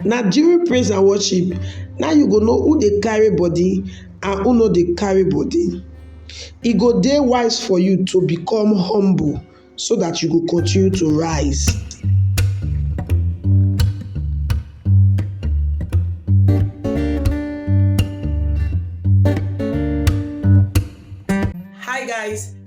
Na during praise and worship na im you go know who dey carry body and who no dey carry body. E go dey wise for you to become humble so dat you go continue to rise.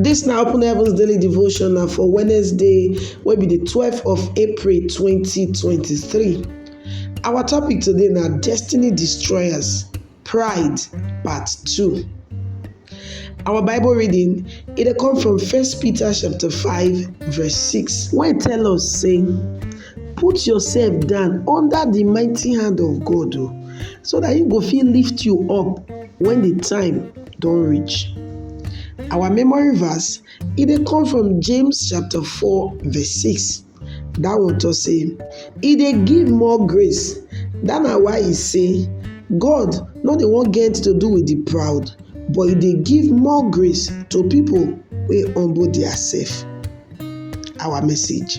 Dis na open heavens daily devotional for Wednesday wey be di twelve of April twenty twenty three. Our topic today na destiny destroyers pride part two. Our bible reading e dey come from first Peter chapter five verse six wey tell us sey put yourself down under di mighty hand of God o so dat im go fit lift you up wen di time don reach. Our memory verse e dey come from James chapter four verse six dat one talk sey e dey give more grace dat na why e sey God no dey wan get to do with the proud but e dey give more grace to pipu wey humble their self. our message.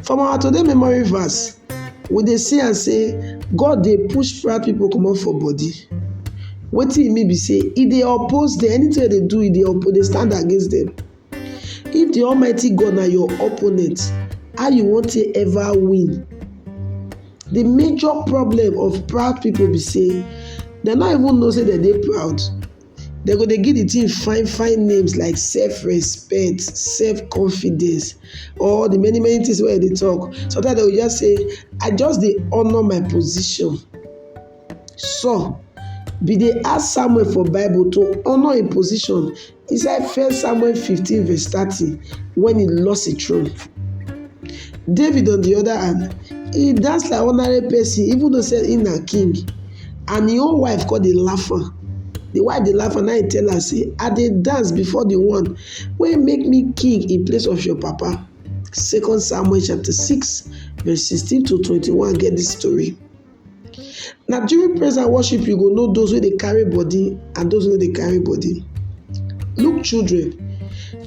From our today memory verse, we dey see am sey God dey push fat pipu comot for body. Wetin e mean be sey e dey oppose dem, anything wey dem dey do e dey oppose e dey stand against dem. If de almighty God na your opponent, how you wan take ever win? De major problem of proud pipu be sey dem no even know sey dem dey proud. dem go dey give the thing fine fine names like self respect, self confidence or the many many things wey dem dey talk. Sometimes dem go just say I just dey honour my position. Saul been dey ask Samuel for bible to honour im position inside first Samuel fifteen verse thirty when he lost im throne. David on the other hand, he dance like ordinary person even though sey im na king. and him own wife come dey laugh am de wife dey laugh am na him tell am sey I dey dance before de one wey make me king in place of your papa second Samuel chapter six verse sixteen to twenty one get dis story. Na during praise and worship you go know those wey dey carry body and those wey no dey carry body. Look children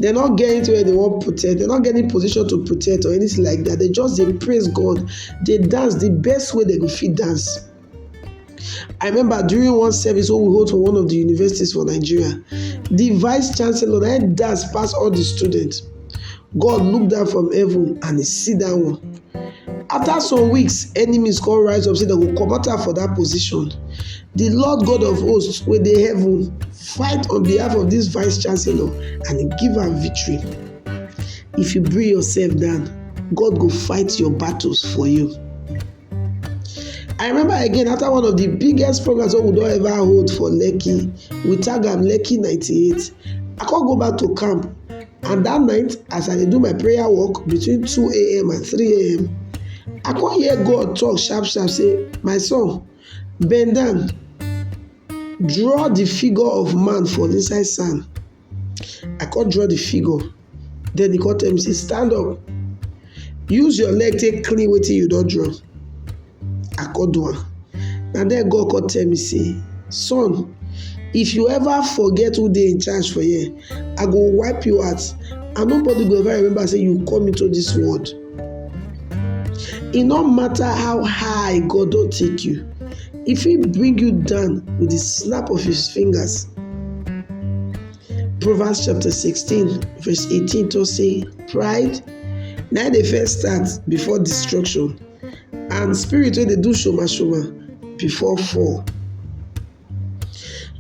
dem no get anything wey dem wan protect dem no get any position to protect or anything like dat dem just dey praise God dey dance de best way dem go fit dance. I remember during one service wey we hold for one of the universities for Nigeria, the vice chancellor na him dance pass all the students. God look down from heaven and he see that one. After some weeks, enemies come rise up say dem go comot am for that position. The Lord God of hosts wey dey heaven fight on behalf of this vice chancellor and he give am victory. If you bring yourself down, God go fight your battles for you. I remember again after one of the biggest programs wey we don ever hold for Lekki, we tag am Lekki 98. I come go back to camp and that night as I dey do my prayer work between 2 a.m. and 3 a.m. I come hear God talk sharp sharp say, my son, bend down, draw the figure of man for inside sand. I come draw de figure den e come tell me sey stand up use your leg take clean wetin you don draw I come do am na den God come tell me sey son if you ever forget who dey in charge for here I go wipe you out and nobody go ever remember sey you come into dis world. E no matter how high God don take you, e fit bring you down with the snap of his fingers. Proverbs chapter 16 verse 18 talk say pride na dey first start before destruction and spirit wey dey do shoma shoma before fall.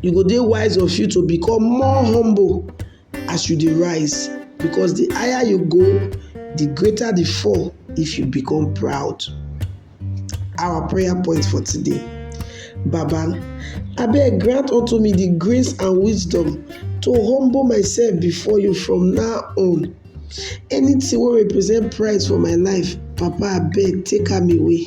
You go dey wise of you to become more humble as you dey rise because the higher you go, the greater the fall if you become proud. Our prayer point for today. Baba, abeg grant unto me the grace and wisdom to humble myself before you from now on. Anything wey represent pride for my life, Papa abeg take am away.